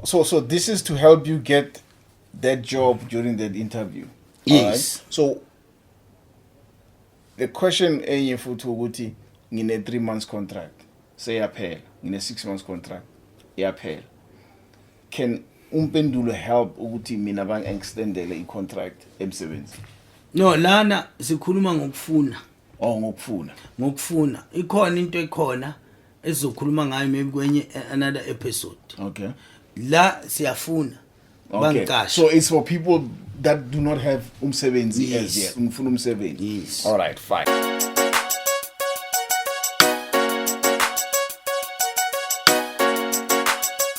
so so this is to help you get that job during that interview yes right? so the question enye futhi ukuthi ngine 3 months contract seyaphela ngine 6 months contract iyaphela can umpendulo help ukuthi mina bang extendele i contract emsebenzi no lana sikhuluma ngokufuna or ngokufuna ngokufuna ikhona into ekhona esizokhuluma ngayo maybe kwenye another episode okay la siyafuna okay. bangicashe so it's for people that do not have umsebenzi yes. as yet ngifuna umsebenzi yes. all right fine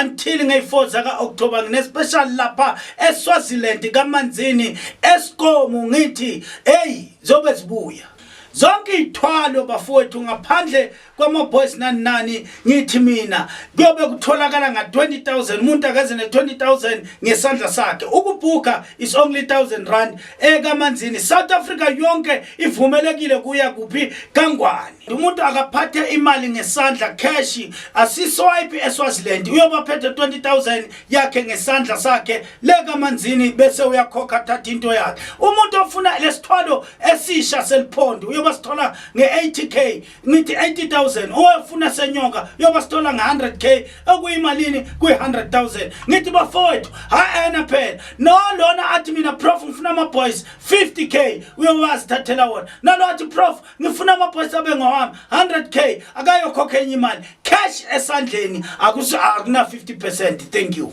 until ngey4 zaka October ngine special lapha eSwaziland kaManzini eSkomu ngithi hey zobe zibuya zonke ithwalo bafowethu ngaphandle kwama boys nani nani ngithi mina kuyobe kutholakala nga 20000 umuntu akaze ne 20000 ngesandla sakhe ukubhuka is only 1000 rand ekamanzini south africa yonke ivumelekile kuya kuphi kangwane umuntu akaphathe imali ngesandla cash asiswipe eswaziland uyobaphethe 20000 yakhe ngesandla sakhe lekamanzini bese uyakhokha thatha into yakhe umuntu ofuna lesithwalo esisha seliphondo uyoba sithola nge-80k ngithi 80000 owafuna senyoka yoba sithola nge100k okuyimalini kwi100000 ngithi bafowethu haena phela no lona athi mina prof ngifuna ama boys 50k uyowazi thathela wona nalo athi prof ngifuna ama boys abe ngowami 100k akayokhokha enye imali cash esandleni akuna 50% thank you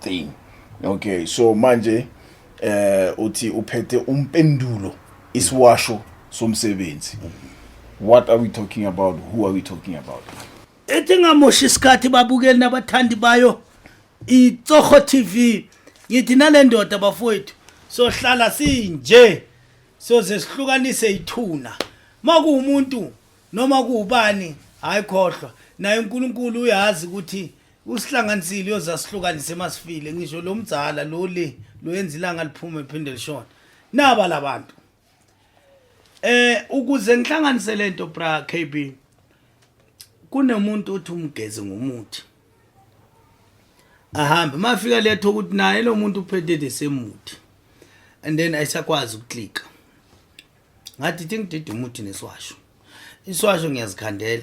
thing okay so manje eh uthi uphethe umpendulo isiwasho somsebenzi what are we talking about who are we talking about ethi ngamoshi isikhathi babukeli nabathandi bayo itsoho tv ngithi nale ndoda bafowethu sohlala sinje soze sihlukanise ithuna makuwumuntu noma kuwubani hayi khohlwa naye uNkulunkulu uyazi ukuthi Usihlanganisile uyozasihlukanise masifile ngisho lo mdzala lo le lo yenza ilanga liphume phinde lishona. Naba labantu. Eh ukuze ngihlanganise lento bra KB kunomuntu othi umgeze ngomuthi. Ahambe mafika letho ukuthi naye lo muntu uphethe desemuthi. And then ayisakwazi ukuklika. Ngathi thingidida umuthi neswasho. Iswasho ngiyazikhandela.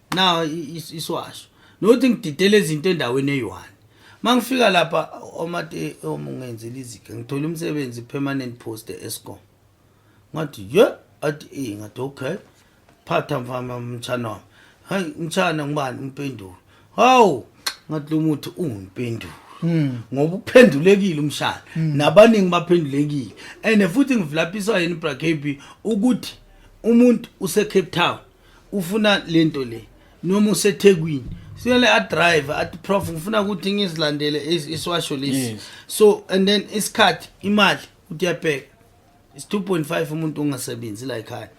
now isiwasho nothi ngididele izinto endaweni eyi-one uma ngifika lapha omate omungenzela izike ngithole umsebenzi permanent post e-escom ngathi ye athi e ngathi okay phatha mfama mtshana wami hayi mtshana ngubani umpendulo hawu ngathi lo muthi ungimpendulo hmm. ngoba uphendulekile umshana hmm. nabaningi baphendulekile and futhi ngivulaphisa yena ibracab ukuthi umuntu usecape town ufuna lento le noma usethekwini siyole adrive athi prof ngifuna ukuthi ngizilandele is- isiwasho lesi Yes. so and then isikhathi imali uthi uyabheka is 2.5 umuntu ongasebenzi la ekhaya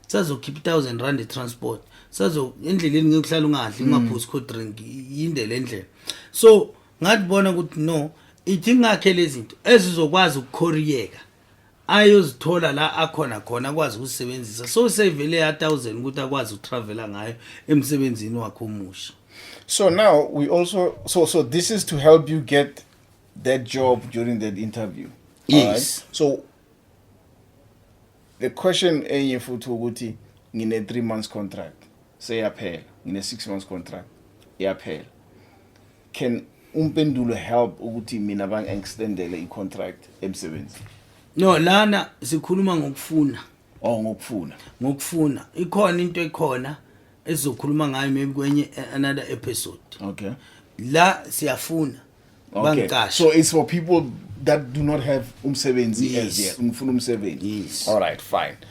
sazokhipha i-thousand rand i-transport sazo endleleni ngeke uhlale ungadli Mm. ungaphuzi cold drink yinde le ndlela so ngathi bona ukuthi no ithi ngakhe lezi zinto ezizokwazi ukukhoriyeka ayozithola la akhona khona akwazi ukusebenzisa so sevele ya 1000 ukuthi akwazi ukutravela ngayo emsebenzini wakhe omusha so now we also so so this is to help you get that job during that interview yes right? so the question enye futhi ukuthi ngine 3 months contract seyaphela ngine 6 months contract iyaphela can umpendulo help ukuthi mina bang extendele i contract emsebenzi no lana sikhuluma ngokufuna oh ngokufuna ngokufuna ikhona into ekhona ezokhuluma ngayo maybe kwenye another episode okay la siyafuna okay. so it's for people that do not have umsebenzi yes. as yet ngifuna umsebenzi yes. all right fine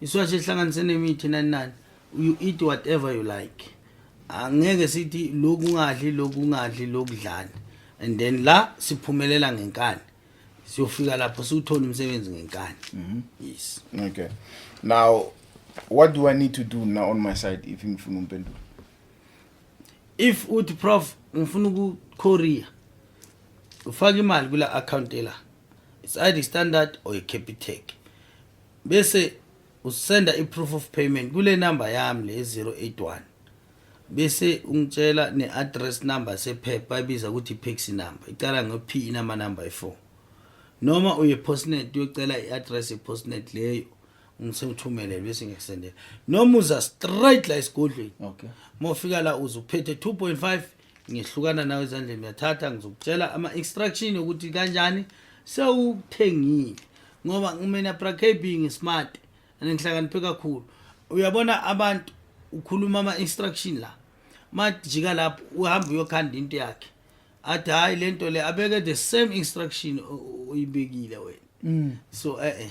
iswashi ehlanganise nemithi nani nani you eat whatever you like angeke sithi lokhu ungadli lokhu ungadli lokudlani and then la siphumelela ngenkani siyofika lapho siwuthole umsebenzi ngenkani mhm. yes okay now what do i need to do now on my side if ngifuna umpendulo if uthi prof ngifuna uku korea ufaka imali kula account la it's either standard or capitec bese usenda i-proof of payment kule number yami le 081 bese ungitshela ne-address number sephepha bayibiza ukuthi i-paxi number iqala ngo-p inamanumber ayi-four noma uye postnet uyocela i-address ye-postnet leyo ngisewuthumelele bese ngiyakusendela noma uza straight la esigodlweni okay mofika la uze uphethe 2.5 ngihlukana nawe ezandleni uyathatha ngizokutshela ama-instruction yokuthi kanjani sewuthengile ngoba mina prakb ngismart and ngihlakaniphe kakhulu uyabona abantu ukhuluma ama-instruction la majika lapho uhamba uyokhanda into yakhe athi hhayi le nto le abeke the same instruction uyibekile wena mm. so e-e eh, eh.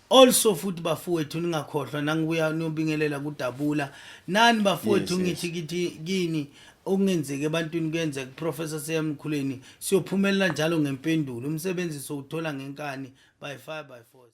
Also futhi bafowethu ningakhohlwa nangibuya niyobingelela kudabula nani bafowethu Yes, yes. ngithi kithi kini okungenzeki ebantwini kuyenzeka kuprofessor seyamkhuleni siyophumelela njalo ngempendulo umsebenzi sowuthola ngenkani by fire by force